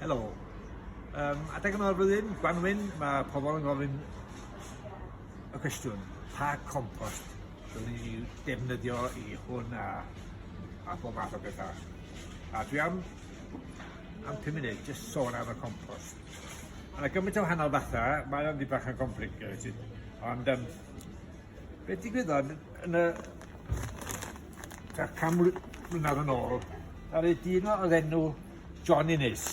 Helo. Um, adeg yma o'r flwyddyn, Gwanwyn, mae pobl yn gofyn y cwestiwn, pa compost dwi'n ni defnyddio i hwn a, a bob math o bethau. A dwi am, am 5 munud, jyst sôn am y compost. Ma' 'na gymaint o wahanol fatha, mae o'n dipyn bach yn complicated, ond yym be' digwyddodd yn y tua can mly- mlynadd yn ôl, ddaru dyn o- odd enw John Innes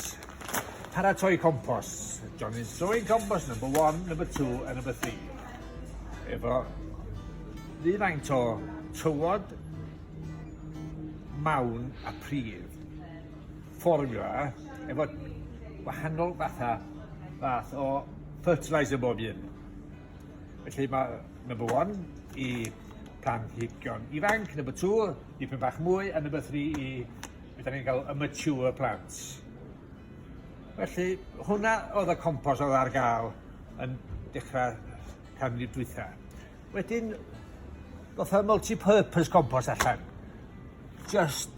paratoi compos, John Innes throwing compos number one, number two a number three efo rhywfaint o tywod mawn a pridd. fformiwla efo gwahanol fatha fath o fertiliser bob un. Felly mae number one i planhigion ifanc, number two i pyn bach mwy, a number three i beth ni'n cael y mature plants. Felly hwnna oedd y compos oedd ar gael yn dechrau canrif dwytha. Wedyn, fatha multi-purpose compost allan. Just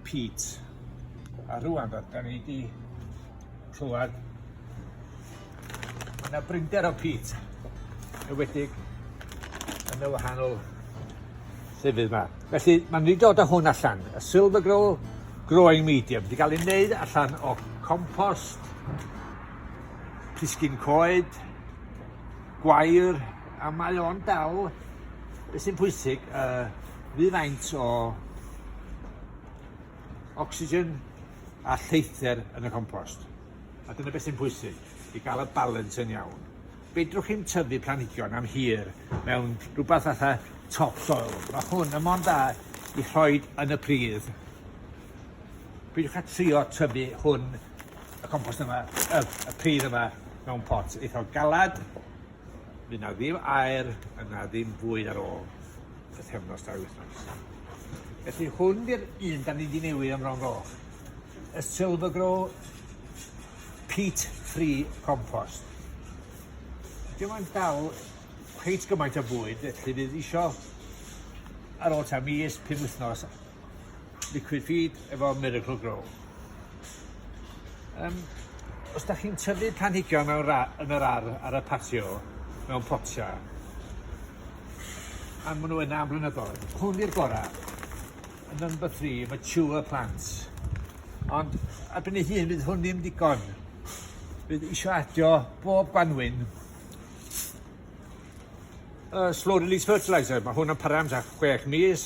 peat. A rwan, da ni wedi clywed yna brinder o peat, ywedig yn y wahanol llefydd yma. Felly, mae'n rhaid dod â hwn allan, y silver grow growing medium, wedi cael ei wneud allan o compost, pisgyn coed, gwair a mae o'n dal beth sy'n pwysig uh, fi faint o oxygen a lleither yn y compost. A dyna beth sy'n pwysig, i gael y balans yn iawn. Fedrwch chi'n tyfu planhigion am hir mewn rhywbeth fatha topsoil. Mae hwn yn mond da i rhoi yn y pridd. Peidiwch â trio tyfu hwn, y compost yma, y, y pridd yma, mewn pot eitha galad. Fydd na ddim aer, yna ddim bwyd ar ôl y thefnos dair wythnos. Felly hwn di'r un da ni wedi newid am Fron Goch. Y Silver Grow Peat Free Compost. Dim ond dal cweit gymaint o bwyd, felly fydd eisiau ar ôl ta mis, pum wythnos, Liquid Feed efo Miracle Grow. Um, os da chi'n tyfu planhigion mewn ra, yn yr ar ar y patio, mewn potia, a maen nhw yna am blynyddoedd, hwn i'r gorau, yn number 3, mature plants. Ond erbyn ei hun, bydd hwn ddim digon. Bydd eisiau adio bob gwanwyn uh, slow release fertilizer. Mae hwn yn para am 6 mis,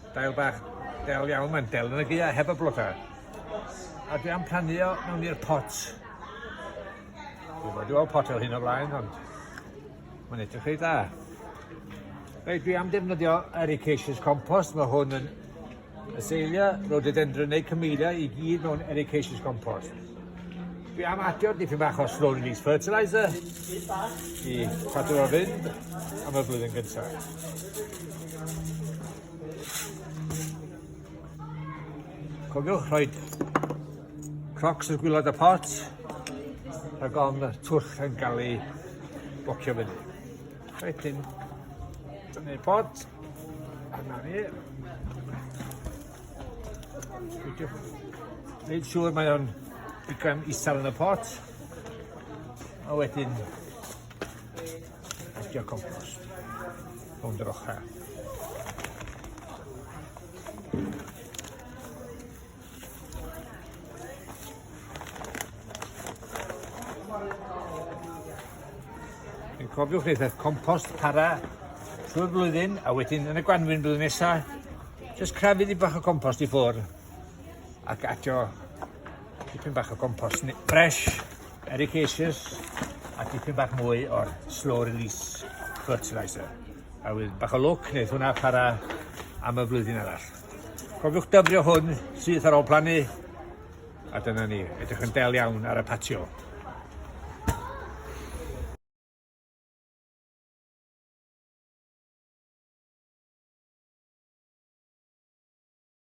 Dail bach del iawn mae'n del yn y gia heb y blodau. A dwi am plannu o mewn i'r pot. Dwi'n bod i weld pot fel hyn o blaen ond mae'n edrych reit dda. Reit, dwi am defnyddio ericaceous compost, mae hwn yn aseilio rhododendron neu cymelia i gyd mewn ericaceous compost. Dwi am adio dipyn bach o slow release fertiliser i cadw o'r fynd am y blwyddyn gyntaf. Cofiwch rhoi crocs yn gwylod y pot rhag ofn y twll yn cael ei bocio fyny. Rhaid yn tynnu'r pot a na ni. Neud siŵr mae o'n digon isel yn y pot a wedyn Postio compost. Rownd yr ochr. Yn cofiwch eithaf compost para trwy'r flwyddyn a wedyn yn y gwanwyn blwyddyn nesaf, jyst crafydd i bach o compost i ffwrdd. ac adio tipyn bach o compost fresh, ericaceous a tipyn bach mwy o'r slow release fertilizer. A wyd bach o lwc wneud hwnna para am y flwyddyn arall. Cofiwch dyfrio hwn syth ar ôl plannu a dyna ni, edrych yn del iawn ar y patio.